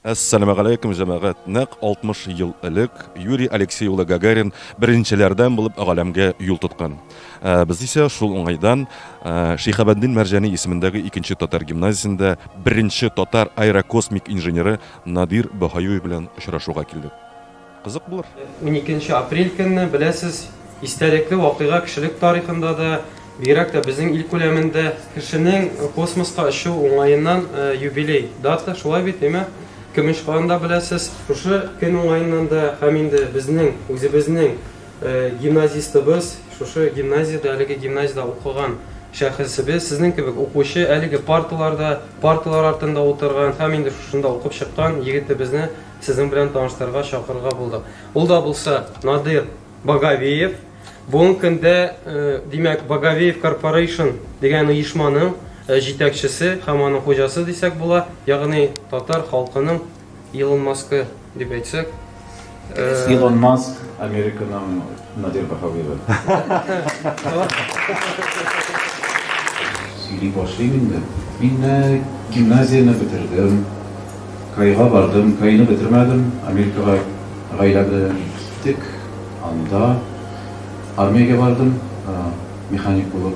Әссәләмәгаләйкүм, җәмәгать! Нәкъ 60 ел элек Юрий Алексей улы Гагарин беренчеләрдән булып галәмгә юл тоткан. Ә без исә шул уңайдан Шиһабәддин Мәрҗани исемендәге икенче татар гимназиясендә беренче татар аэрокосмик инженеры Надир Баһаюев белән очрашуга килдек. Кызык булыр. Уникенче апрель көнне, беләсез, истәлекле вакыйга кешелек тарихында да, бигрәк тә безнең ил күләмендә. Кешенең космоска очу уңаеннан юбилей дата, шулай бит, әйме? Көмеш кан да, беләсез. Шушы көн уңаеннан да һәм инде безнең үзебезнең гимназистыбыз, шушы гимназиядә, әлеге гимназиядә укыган шәхесебез, сезнең кебек укучы, әлеге парталарда, парталар артында утырган һәм инде шушында укып чыккан егетебезне Сезнең белән таныштырырга чакырырга булдык. Ул да булса Надир Багавеев. Бүгенге көндә, э, димәк, Багавеев Корпорейшн дигән оешманың э, җитәкчесе һәм аның хуҗасы дисәк була, ягъни татар халкының Илон Маскы дип әйтсәк. Илон Маск Американың Надир Баһавиева. Сөйли башлыйм инде. Мин менә гимназияне бетердем, КАИга бардым, КАИны бетермәдем, Америкага гаилә белән киттек, анда армиягә бардым, механик булып,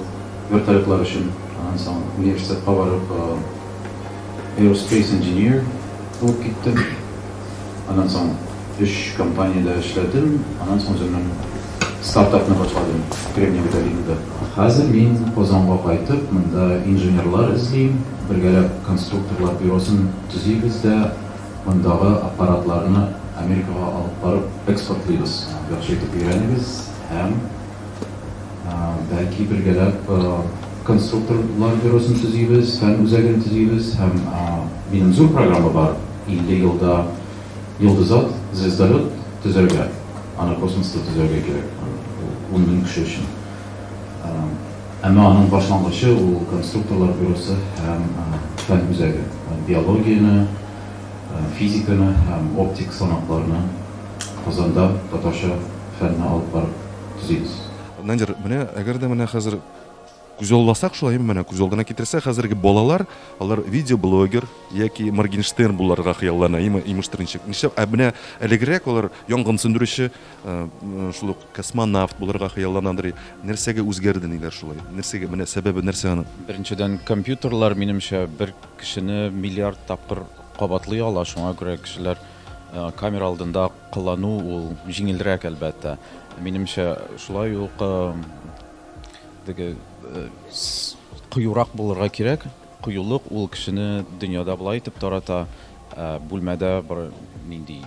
вертолетлар өчен, аннан соң университетка барып, Aerospace Engineer булып киттем. Аннан соң өч компаниядә эшләдем, аннан соң үземнең стартапны башладым Кремниевый долинада. Хәзер мин Казанга кайтып, монда инженерлар эзлим, бергәләп конструкторлар бюросын төзибез дә мондагы аппаратларны Америкага алып барып экспортлыйбыз. Яхшы итеп өйрәнегез һәм. Бәлки бергәләп конструкторлар бюросын төзибез, фән үзәген төзибез һәм минем зур программа бар, 50 елда йолдызат, звездолет, төзәргә. Аны космоста төзәргә кирәк, ул ун мең кеше өчен. Әмма аның башлангычы ул конструкторлар бюросы һәм фән үзәге. Биологияне, физиканы һәм оптик санакларны. Казанда татарча фәнне алып барып төзибез. Надир, менә әгәр дә менә хәзер күзалласак шулай, менә күз алдына китерсәк, хәзерге балалар, алар видеоблогер яки Моргенштерн буларга хыяллана, им- имештер ничек. Нишләп? Ә менә әлегрәк алар янгын сүндерүче, э, м, шул ук космонавт булырга хыялланадыр. И Нәрсәгә үзгәрде ниләр шулай? Нәрсәгә, менә сәбәбе нәрсә аның? Беренчедән, компьютерлар, минемчә, бер кешене миллиард тапкыр кабатлый ала, шуңа күрә кешеләр, Камера алдында кылану ул җиңелрәк, әлбәттә. Минемчә, шулай ук теге кыюрак булырга кирәк. Кыюлык ул кешене дөньяда болай итеп тарата, бүлмәдә бер нинди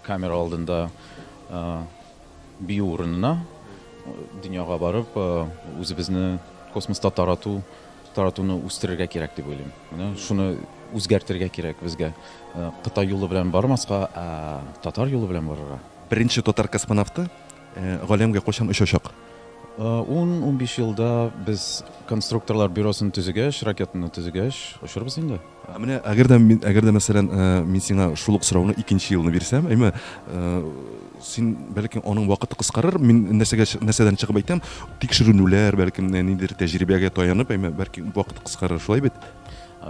камера алдында бию урынына, дөньяга барып, үзебезне космоста тарату Таратуны үстерергә кирәк дип уйлыйм. Менә шуны үзгәртергә кирәк безгә. Э, Кытай юлы белән бармаска, ә татар юлы белән барырга. Беренче татар космонавты э, галәмгә кайчан очачак? 10-15 э, елда без конструкторлар бюросын төзегәч, ракетаны төзегәч, очырбыз инде. Ә менә әгәр дә мин, әгәр дә, мәсәлән, мин сиңа шул ук сорауны икенче елны бирсәм, әйме, син, бәлки, аның вакыты кыскарыр, мин нәрсәгә, нәрсәдән чыгып әйтәм, тикшеренүләр, бәлки, ниндидер тәҗрибәгә таянып, әйме, бәлки, вакыты кыскарыр, шулай бит?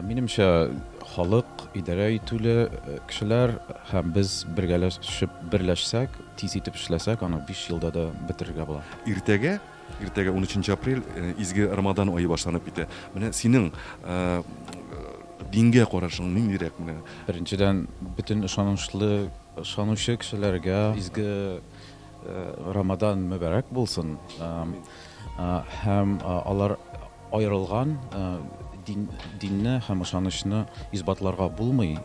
Минемчә, халык, идарә итүле кешеләр һәм без бергәләшеп, берләшсәк, тиз итеп эшләсәк, аны биш елда да бетерергә була. Иртәгә Иртәгә унөченче апрель, изге Рамадан ае башланып китә. Менә синең дингә карашың ниндирәк менә? Беренчедән, бөтен ышанычлы, ышанучы кешеләргә изге Рамадан мөбарәк булсын. Һәм алар аерылган дин, динне һәм ышанычны исбатларга булмый,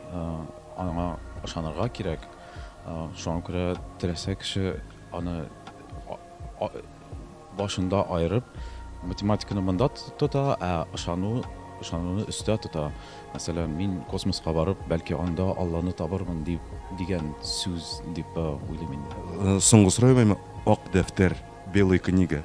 аңа ышанырга кирәк. Шуңа күрә теләсә кеше Аны башында аерып, математиканы монда тота, ә ышану, ышануны өстә тота. Мәсәлән, мин космоска барып, бәлки анда Алланы табырмын дип дигән сүз дип уйлыйм инде. Соңгы сорау, ак дәфтәр, белая книга.